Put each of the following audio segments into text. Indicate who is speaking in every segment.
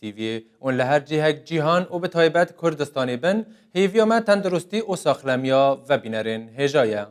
Speaker 1: Tîviyê û li her cihek cîhan û bi taybet Kurdistanê bin, hêviya me tenduristî û saxlemiya vebînerên hêja ye.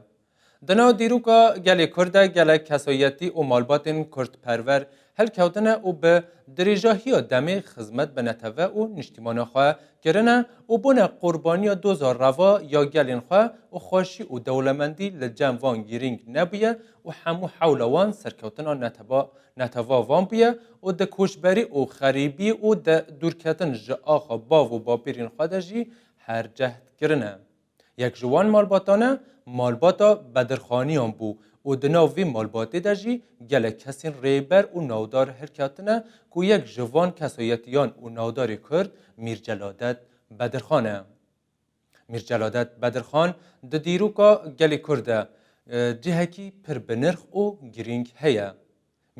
Speaker 1: Di nav dîroka gelê Kurd de gelek kesayetî û malbatên Kurdperwer hilkewtine û bi dirêjahiya demê xizmet bi netewve û niştîmana xwe kirine û bûne qurbaniya doza reva ya gelên xwe û xweşî û dewlemendî li cem van girîng nebûye û hemû hewla wan serkewtina neteba Netewah van bûye û di koçberî û xerîbî û di dûrketin ji axa bav û bapêrên xwe de jî her cehd kirine. Yek ji wan malbatane malbata Bedirxaniyan bû û di nav vî malbatê de jî gelek kesên rêber û navdar hilketine ku yek ji van kesayetiyan û navdarê Kurd Mîr Celadet Bedirxan e. Mîr Celadet Bedirxan di dîroka gelê Kurd de cihekî pir binirx û girîng heye.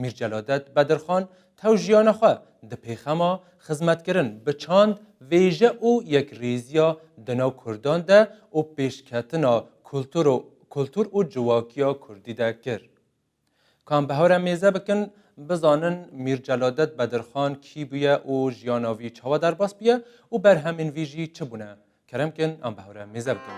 Speaker 1: Mîr Celadet Bedirxan tew jiyana xwe di pêxema xizmetkirin bi çand vêje û yekrêziya di nav Kurdan de û pêşketina kultur û ciwakiya Kurdî de kir. Kan bi hewre mêze bikin, bizanin Mîr Celadet Bedirxan kî bûye û jiyana vî çawa derbas bûye û berhemên vî jî çi bûne. Kerem kin em bi hewre mêze bikin.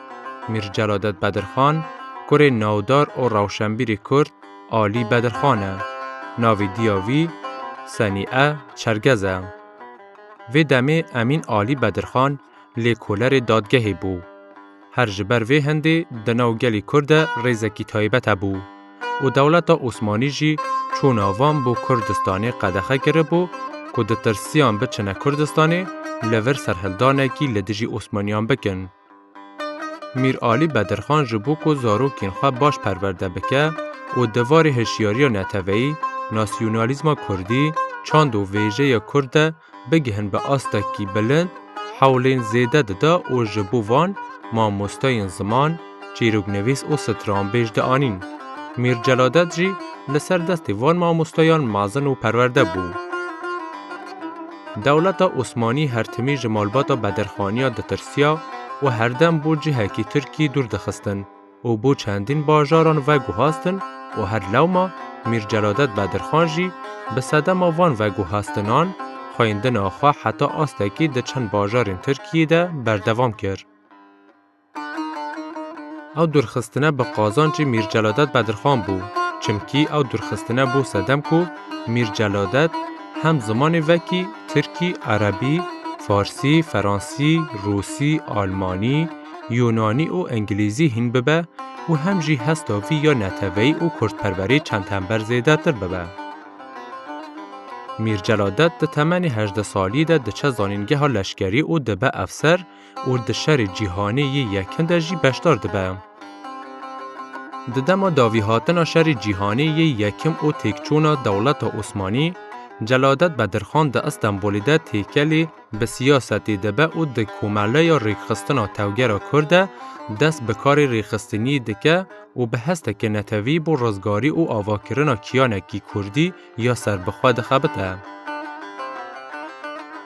Speaker 2: Mîr Celadet Bedirxan, kurê navdar û rewşenbîrê Kurd Alî Bedirxan e. Navê dîya wî Senîe Çergez e. Vê demê Emîn Alî Bedirxan lêkolerê dadgehê bû. Her ji ber vê hindê di nav gelê Kurd de rêzekî taybet hebû û dewleta Osmanî jî çûna van bo Kurdistanê qedexe kiribû ku ditirsiyan biçine Kurdistanê li vir serhildanekî li dijî Osmaniyan bikin. Mîr Alî Bedirxan ji bo ku zarokên xwe baş perwerde bike û di varê hişyariya neteweyî, nasyonalîzma kurdî, çand û vêjeyê kurd de bigihin bi astekî bilind, hewlên zêde dida û ji bo van mamosteyên ziman, çîroknivîs û stranbêj dianîn. Mîr Celadet jî li ser destê van mamosteyan mezin û perwerde bû. Dewleta Osmanî her timî ji malbata Bedirxaniya ditirsiya û herdem bo cihekî Tirkî dûr dixistin û bo çendîn bajaran veguhastin û her lewma Mîr Celadet Bedirxan jî bi sedema van veguhastinan xweyndina xwe heta astekî di çend bajarên Tirkiyê de berdewam kir. Ew dûrxistine bi qazancê Mîr Celadet Bedirxan bû, çimkî ew dûrxistine bû sedem ku Mîr Celadet hem zimanê vekî, tirkî, erebî, farsî, feransî, rûsî, almanî, yûnanî û engilîzî hîn bibe û hem jî hesta vî ya neteweyî û kurdperwerî çend hember zêdetir bibe. Mîr Celadet di temenê hejdeh salî de diçe zanîngeha leşkerî û dibe efser û di Şerê Cîhanê yê Yekin de jî beşdar dibe. Di dema davîhatina Şerê Cîhanê yê Yekim û têkçûna dewleta Osmanî, Celadet Bedirxan di Îstenbolê de têkelê bi siyasetê dibe û di Komeleya Rêkxistina Tevgera Kurd de dest bi karê rêxistiniyê dike û bi hesteke netewî bo rizgarî û avakirina kiyanekî kurdî ya serbixwe dixebite.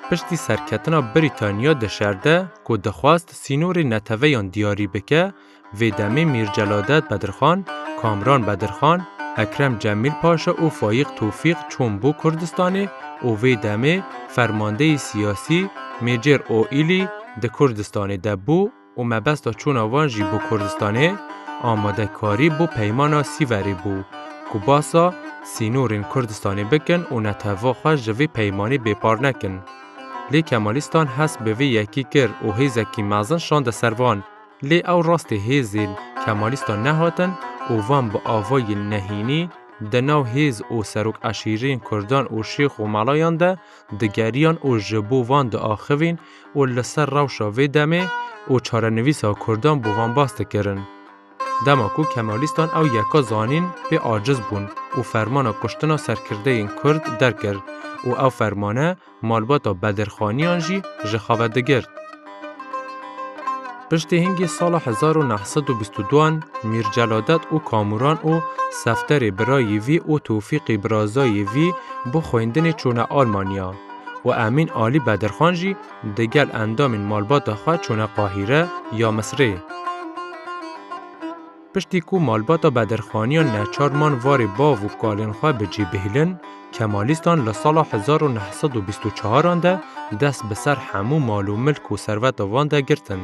Speaker 2: Piştî serketina Brîtanya di şer de ku dixwast sînorê neteveyan diyarî bike, vê demê Mîr Celadet Bedirxan, Kamran Bedirxan, Ekrem Cemîl Paşa û Fayîq Tofîq çûn bo Kurdistanê û vê demê fermandeyî siyasî Mêcêr Oîlî di Kurdistanê de bû. û mebesta çûna wan jî bo Kurdistanê amadekarî bo Peymana Sîverê bû ku basa sînorên Kurdistanê bikin û netewva xwe ji vê peymanê bêpar nekin. Lê Kemalîstan hest bi vê yekî kir û hêzekî mezin şande ser van. Lê ew rastê hêzên Kemalîstan nehatin û van bi avayên nehînî di nav hêz û serok eşîrên Kurdan û şêx û melayan de digeriyan û ji bo van diaxivîn û li ser rewşa vê demê û çarenivîsa kurdan bû van bas dikirin. Dema ku Kemalîstan ew yeka zanîn pê aciz bûn û fermana kuştina serkirdeyên kurd derkir û ew fermane malbata bedirxaniyan jî ji xeve digirt. Piştî hingî sala hezar û neh sed û bîst û duan Mîr Celadet û Kamuran û Sefterê birayî vî û Tewfîqî birazayê vî bo xwendinê çûne Almanya. û Emîn Alî Bedirxan jî di gel endamên malbata xwe çûne Qahîre ya Misirê. Piştî ku malbata Bedirxaniyan neçar man varê bav û kalên xwe bi cî bihîlin, Kemalîstan li sala hezar û neh sed û bîst û çaran de dest bi ser hemû mal û milk û serveta van de girtin.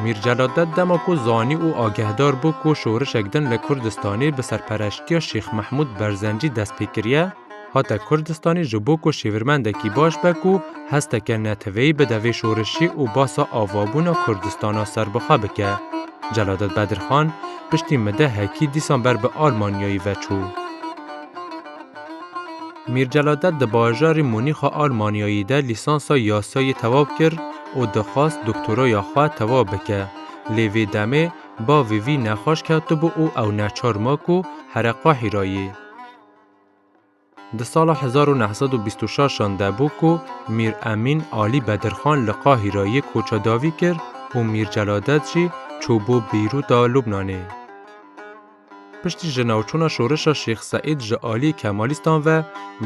Speaker 2: Mîr Celadded dema ku zanî û agehdar bû ku şorişek din li Kurdistanê bi serpereştiya Şêx Mehmûd Berzencî dest pê kiriye, hate Kurdistanê ji bo ku şêvirmendekî baş be ku hesteke neteweyî bide vê şorişî û basa avabûna Kurdistana serbixwe bike. Celadded Bedirxan piştî midehekî dîsan ber bi Almanyayê veçû. Mîr Celadet di bajarê Munîx a Almanyayê de lîsansa yasayê tewab kir û dixwest doktoraya xwe tewab bike. Lê vê demê bavê vî nexweş ketibû û ew neçar ma ku here qehî ra yê. Di sala hezar û neh sed û bîst û şeş an de bû ku Mîr Emîn Alî Bedirxan li Qahîreyê koça dawî kir û Mîr Celadet jî çû bo Beyrûta Lubnanê. Piştî ji navçûna şoreşa Şêx Seîd ji aliyê Kemalîstan ve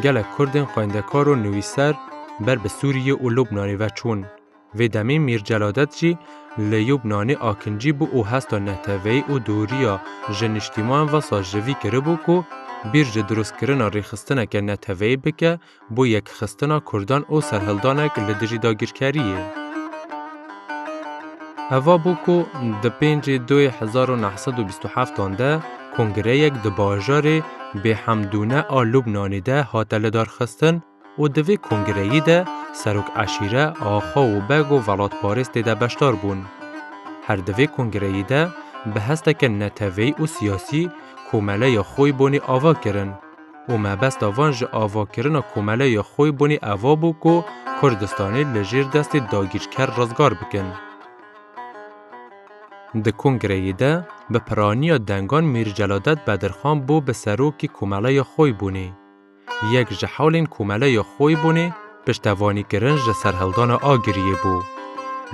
Speaker 2: gelek Kurdên xwendekar û nivîser ber bi Sûriyê û Lubnanê ve çûn. Vê demê Mîr Celadet jî li Yubnanê akincî bû û hesta neteweyî û dûriya ji niştîman ve sar ji vî kiribû ku bîr ji dirustkirina rêxistineke neteweyî bike bo yekxistina Kurdan û serhildanek li dijî dagirkeriyê. Heva bû ku di pêncê doyê hezar û neh sed û bîst û heftan de kongreyek di bajarê Bê Hemdûne a Lubnanê de hate lidarxistin û di vê kongreyî de serok eşîre, axa û beg û velatparêz tê de beşdar bûn. Her di vê kongreyî de bi hesteke neteweyî û siyasî komeleya xwe bonê ava kirin. û mebesta van ji avakirina komele ya xwe bûnê eva bû ku Kurdistanê li jêr destê dagîrker rizgar bikin. Di kongreyê de bi piraniya dengan Mîr Celadet Bedirxan bû bi serokê komeleya xwe bûnê. Yek ji hewlên komeleya xwe bûnê piştevanîkirin ji serhildana Agiriyê bû.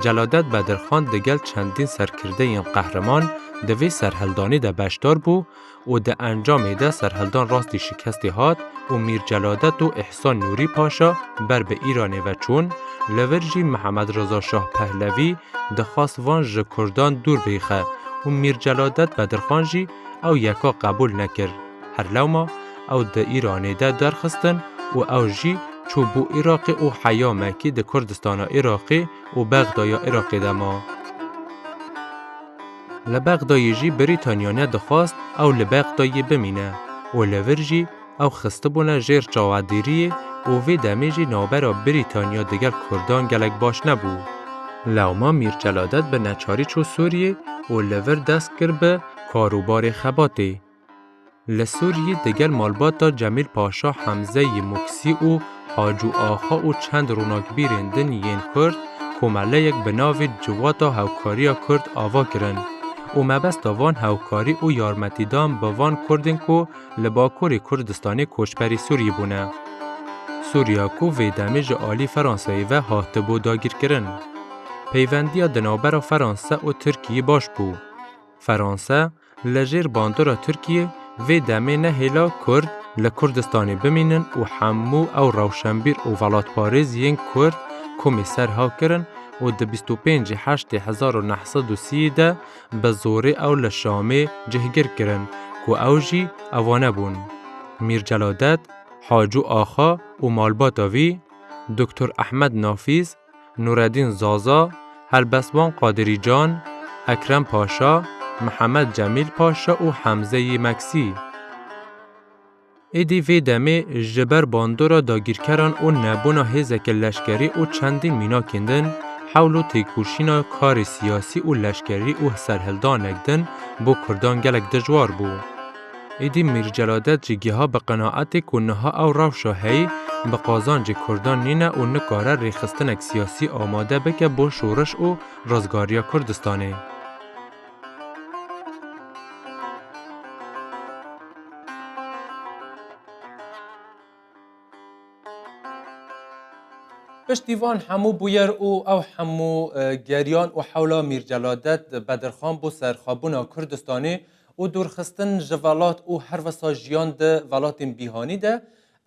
Speaker 2: Celadet Bedirxan digel çendîn serkirdeyên qehreman di vê serhildanê de beşdar bû û di encamê de serhildan rastî şikestê hat û Mîr Celadet û Îhsan Nûrî Paşa ber bi Îranê ve çûn, li vir jî Mihemed Riza Şah Pehlevî dixwast van ji Kurdan dûr bixe û Mîr Celadet Bedirxan jî ew yeka qebûl nekir. Her lewma ew di Îranê de derxistin û ew jî çû bo Îraqê û heya me kî di Kurdistana Îraqê û Bexdaya Îraqê de ma. Li Bexdayê jî Brîtanyane dixwast ew li Bexdayê bimîne û li vir jî ew xistibûne jêr çawadêriyê û vê demê jî navbera Brîtanya digel Kurdan gelek baş nebû. Lewma Mîr Celadet bi neçarî çû Sûriyê û li vir dest kir bi karûbarê xebatê. Li Sûriyê di gel malbata Cemîl Paşa Hemze yê Muksî û Acû Axa û çend ronakbîrên din yên Kurd komeleyek bi navê Civata Hewkariya Kurd ava kirin û mebesta van hewkarî û yarmetîdan bi van Kurdên ku li Bakurê Kurdistanê koçberî Sûriyê bûne. Sûriya ku vê demê ji alî Fransayê ve hatibû dagîrkirin. Peyvendiya di navbera Fransa û Tirkiyê baş bû. Fransa, Li jêr bandora Tirkiyê vê demê ne hêla Kurd li Kurdistanê bimînin û hemû ew rewşenbîr û welatparêz yên Kurd komê ser ha kirin û di bîst û pêncî Heştê hezar û neh sed û sî de bi zorê ew li Şamê cihgir kirin ku ew jî evane bûn. Mîr Celadet, Hacû Axa û malbata vî, Doktor Ehmed Nafîz, Nureddîn Zaza, Helbestvan Qadirî Can, Ekrem Paşa, Mihemed Cemîl Paşa û Hemze yî Meksî. Êdî vê demê ji ber bandora dagîrkeran û nebûna hêzeke leşkerî û çendîn mînakên din, hewl û têkoşîna karê siyasî û leşkerî û serhildanek din bo kurdan gelek dijwar bû. Êdî Mîr Celadet jî giha bi qenaetê ku niha ew rewşa heyî bi qazancê Kurdan nîne û nikare rêxistinek siyasî amade bike bo şoriş û rizgariya Kurdistanê.
Speaker 1: Piştî van hemû bûyer û ew hemû geriyan û hewla Mîr Celadet Bedirxan bo serxabûna Kurdistanê, û dûrxistin ji velat û her wisa jiyan di velatên bîhanî de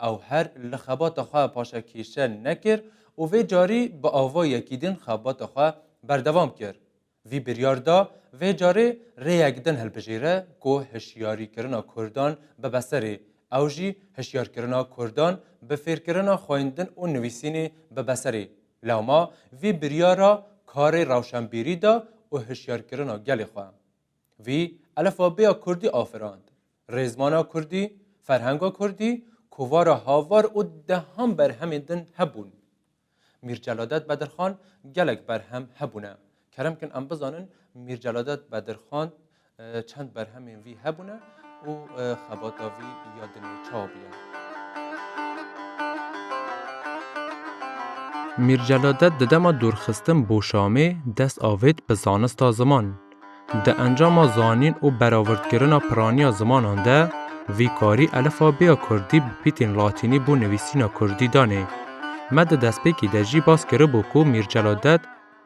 Speaker 1: ew her li xebata xwe paşa kêşe nekir û vê carî bi ava yekî din xebata xwe berdewam kir. Vî biryar da vê carê rêyek din hilbijêre ku hişyarîkirina kurdan bibe serê, ew jî hişyarkirina kurdan bi fêrkirina xwendin û nivîsînê bibe serê. Lewma vî biryara karê rewşenbîrî da û hişyarkirina gelê xwe. Vî elfabêya kurdî afirand. Rêzmana kurdî, ferhenga kurdî kovara havar û dehan berhemên din hebûn. Mîr Celadet Bedirxan gelek berhem hebûne. Kerem kin em bizanin Mîr Celadet Bedirxan çend berhemên vî hebûne. û xebata vî ya dinê çav ye.
Speaker 2: Mîr Celadet di dema dûrxistin bo Şamê dest avêt bi zanista ziman. Di encama zanîn û beravirdkirina piraniya zimanan de vî karî elifabêya kurdî bi pîtên latînî bo nivîsîna kurdî danê. Me di destpêkî de jî bas kiribû ku Mîr Celadet,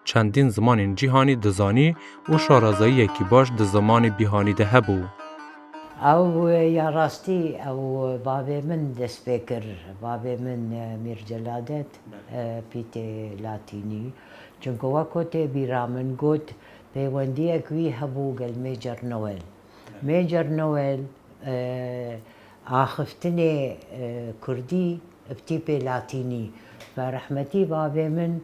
Speaker 2: Çendîn zimanên cîhanî dizanî û şarazayiyekî baş di zimanê bîhanî de hebû. Ew
Speaker 3: ya rastî ew bavê min dest pê kir. Bavê min Mîr Celadet pî tê Latînî. Çimkû weko tê bîra min got peywendiyek wî hebû gel Mêcer Noel. Mêcer Noel axiftinê kurdî pî tê Latînî. Berehmetî bavê min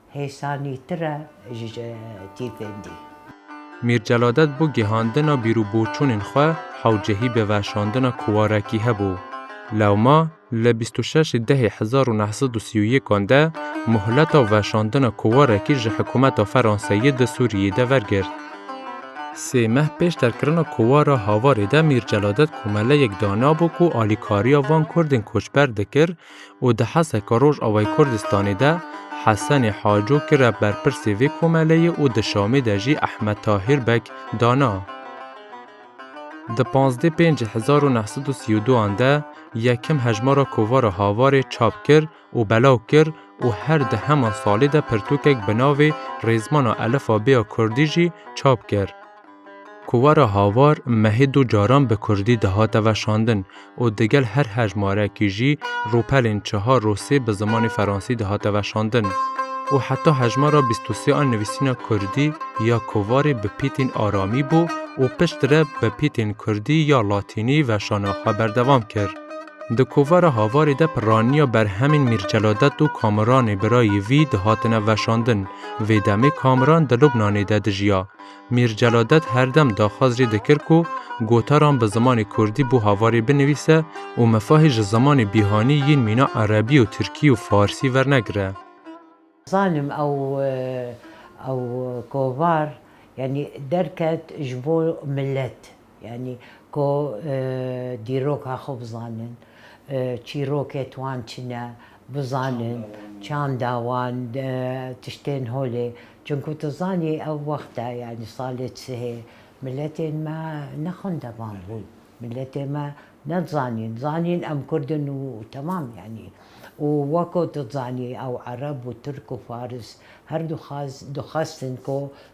Speaker 3: Hêsanîtir e ji tîfên dî.
Speaker 2: Mîr Celadet bo gihandina bîrûboçûnên xwe hewcehî bi veşandina kuwarekî hebû. Lewma li bîst û şeş dehê hezar û neh sed û sî û yekan de muhleta veşandina kuwarekî ji hikumeta Feranseyê di Sûriyeyê de vergirt. Sê meh pêş derkirina kuwara Havarê de Mîr Celadet komeleyek danabû ku alîkariya van kurdên koçber dikir, û di Heseka Rojavayê Kurdistanê de Hesenê Haco kire berpirsê vê komeleyê û di Şamê de jî Ehmed Tahîr Beg dana. Di pazdeh pêncî hezar û neh sed û sî û du an de yekem hejmara kovara Havarê çap kir û belav kir û her di heman salê de pirtûkek bi navê Rêzmana Elifa Bêya Kurdî jî çap kir. Kovara Havar mehê du caran bi kurdî dihate veşandin û digel her hejmarekî jî rûpelên çihar rûsî bi zimanê feransî dihate veşandin û heta hejmara bîst û sê a nivîsîna kurdî ya kovarê bi pîtên aramî bû û piştre bi pîtên kurdî ya latînî veşana xwe berdewam kir. Di kovara Havarê de pirraniya berhemên Mîrceladet û Kamiranê birayê vî dihatine veşandin, vê demê Kamiran di Lubnanê de dijiya. Mîr Celadet her dem daxwaz jî dikir ku gotaran bi zimanê kurdî bo havarê binivîse û mifahê ji zimanê bîhanî yên mîna erebî û tirkî û farsî wernegire. Zanim
Speaker 3: ew ew kovar yanî derket ji bo milet. Yanî ku dîroka xwe bizanin, çîrokê wan çi ne, bizanin çanda wan, tiştên holê. Çimkû tu zanî ew wexta yanî salê sihê miletên me ne xwendevan bûn, miletên me ne dizanîn, zanîn em kurd in û temam yanî. Û wek ku tu dizanî ew ereb û tirk û faris her du dixwestin ku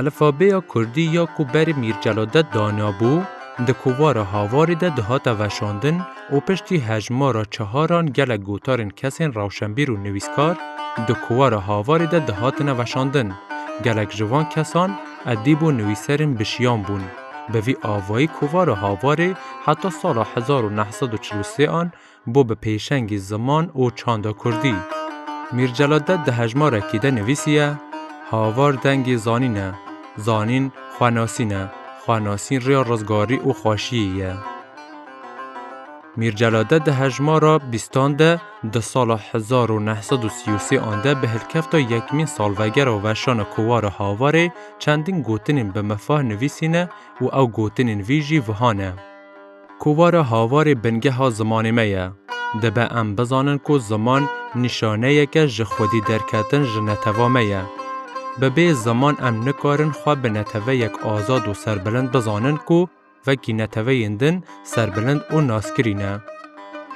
Speaker 2: Elfabêya Kurdî ya ku berê Mîr Celadet danabû, di kovara Havarê de dihate veşandin û piştî hejmara çeharan gelek gotarên kesên rewşenbîr û nivîskar di kovara Havarê de dihatine veşandin. Gelek ji van kesan edîb û nivîserên bişiyan bûn. Bi vî avayî kovara Havarê heta sala hezar û neh sed û çil û sê an bo bi pêşengî ziman û çanda kurdî. Mîr Celadet di hejmarekî de nivîsiye, Havar dengê zanîn e, zanîn xwenasîn e, xwenasîn rêya rizgarî û xweşiyê ye. Mîr Celadet di hejmara bîstan de di sala hezar û neh sed û sî û sê an de bi hilkefta yekmîn salvegera weşana Kovara Havarê çendîn gotinên bi mifah nivîsîne û ew gotinên vî jî viha ne. Kovara havarê bingeha zimanê me ye. Dibe em bizanin ku ziman nîşaneyeke ji xwedî derketin ji neteva me ye. Bi bê ziman em nikarin xwe bi neteweyek azad û serbilind bizanin ku vekî neteweyên din serbilind û naskirî ne.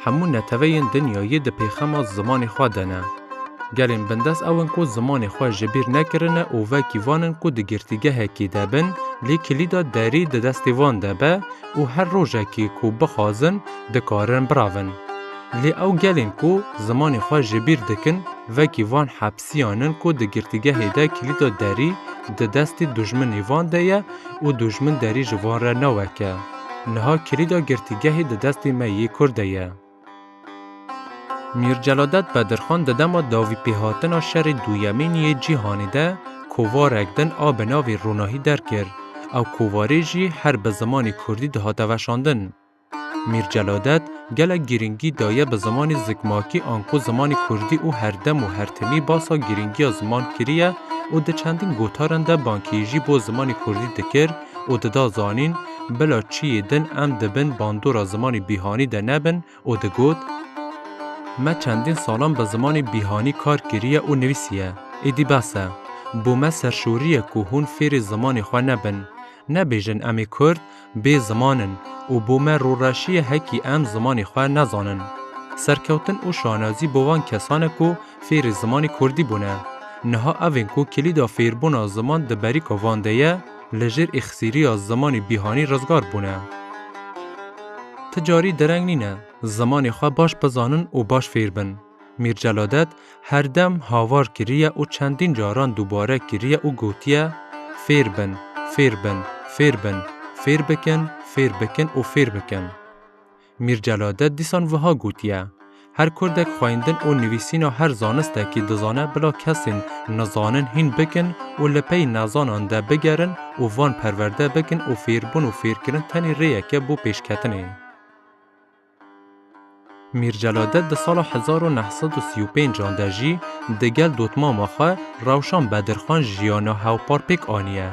Speaker 2: Hemû neteweyên dinyayê di pêxema zimanê xwe de ne. Gelên bindest ew in ku zimanê xwe ji bîr nekirine û vekî van in ku di girtîgehekî de bin lê kilîda derî di destê van de be û her rojekê ku bixwazin dikarin biravin. Lê ew gelên ku zimanê xwe ji bîr dikin vekî van hepsiyan in ku di girtîgehê de kilîda derî di destê dûjminê van de ye û dûjmin derî ji van re naweke. Niha kilîda girtîgehê di destê me yê Kurd de ye. Mîr Celadet Bedirxan di dema davîpêhatina Şerê Duyemîn yê Cîhanê de kovarek din a bi navê Ronahî derkir, ew kovarê jî her bi zimanê Kurdî dihate veşandin. Mîr Celadet gelek girîngî daye bi zimanê zikmakî anko zimanê Kurdî û her dem û her timî basa girîngiya ziman kiriye û di çendîn gotaran de bankîyî jî bo zimanê Kurdî dikir, û dida zanîn bila çiyê din em di bin bandora zimanê bîhanî de nebin û digot, Me çendîn salan bi zimanê bîhanî kar kiriye û nivîsiye, êdî bes e. Bo me serşorî ye ku hûn fêrê zimanê xwe nebin. Nebêjin em ê Kurd bê ziman in û bo me rûreşî ye hekî em zimanê xwe nezanin. Serkewtin û şanazî bo van kesan e ku fêrê zimanê Kurdî bûne. Niha ev ên ku kilîda fêrbûna ziman di berîka van de ye, li jêr îxsîriya zimanê bîhanî rizgar bûne. Ti carî dereng nîne zimanê xwe baş bizanin û baş fêr bin. Mîr Celadet her dem havar kiriye û çendîn caran dubare kiriye û gotiye, Fêr bin, fêr bin, fêr bin, fêr bikin, fêr bikin û fêr bikin. Mîr Celade dîsan wiha gotiye, Her kurdek xweyndin û nivîsîna her zanistekî dizane bila kesên nizanin hîn bikin û li pey nezanan de bigerin û van perwerde bikin û fêrbûn û fêrkirin tenê rêyek e bo pêşketinê. Mîr Celade di sala hezar û neh sed û sî û pênc an de jî digel dotmama xwe Rewşan Bedirxan jiyana hewpar pêk aniye.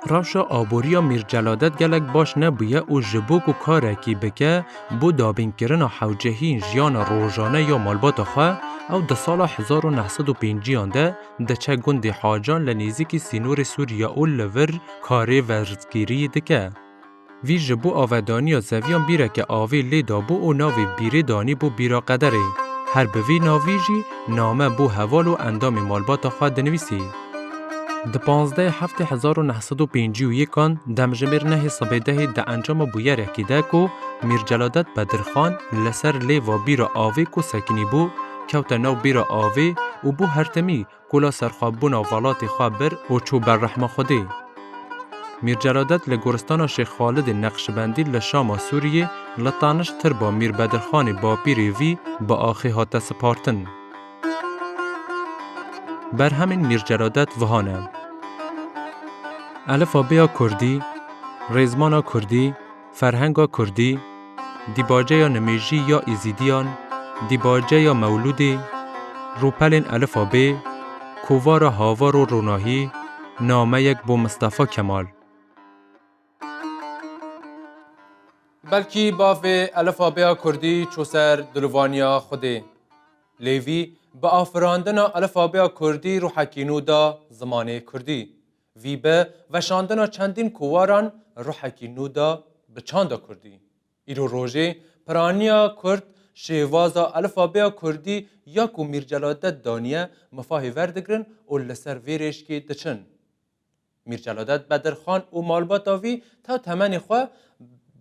Speaker 2: Rewşa aboriya Mîr Celadet gelek baş nebûye û ji bo ku karekî bike bo dabînkirina hewcehî jiyana rojane ya malbata xwe, ew di sala hezar û neh sed û pênciyan de diçe gundê Hacan li nêzîkî sînorê Sûriye û li vir karê verzgirî dike. Vîr ji bo avedaniya zeviyan bîreke avê lê dabû û navê bîrê danî bo bîra qederê. Her bi vî navî jî name bo heval û endamê malbata xwe dinivîsî. Di panzdehê heftê hezar û neh sed û pêncî û yêkan demjimêr nehê sibê dehê di encama bûyerekî de ku Mîr Celadet Bedirxan li ser lêva bîra avê ku sekînî bû kewte nav bîra avê û bo hertemî Kula serxwebûna velatê xwe bir û çû ber rehma Xwedê. Mîr Celadet li Goristana Şêx Xalidê Neqşibendî li Şama Sûriyê li taniş tirba Mîr Bedirxanê bapîrê vî bi axê hate sipartin. Berhemên Mîr Celadet viha ne. Elifabêya Kurdî, Rêzmana Kurdî. Ferhenga kurdî, dîbaceya nimêjî ya Êzîdiyan, dîbaceya mewlûdê, rûpelên elifa bê, kovara havar û ronahî, nameyek bo Mistefa Kemal.
Speaker 1: Belkî bavê elifa bêya kurdî çû ser dilûvaniya xwedê. Lêvî bi afirandina elifa bêya kurdî rûhekî nû da zimanê kurdî. Vî bi veşandina çendîn kowaran ruhekî nû da bi çanda kurdî. Îro rojê piraniya kurd şêwaza elifabêya kurdî ya ku Mîr Celadet daniye mifahê verdigirin û li ser vê rêşkê diçin. Mîr Celadet Bedirxan û malbata vî ta temenê xwe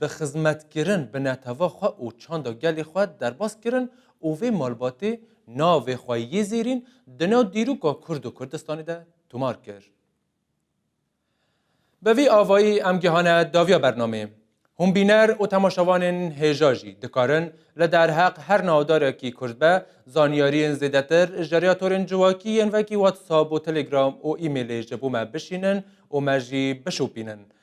Speaker 1: bi xizmetkirin bi neteva xwe û çanda gelê xwe derbas kirin û vê malbatê navê xwe yê zêrîn di nav dîroka kurd û Kurdistanê de tomar kir. Bi vî avayî em gihane daviya bernamê. Hûnbîner û temaşevanên hêja jî dikarin li derheq her navdarekî Kurd be zanyariyên zêdetir ji ryatorên civakî yên vekî WhatsApp û Telegram û emailê ji bo me bişînin û me jî bişopînin.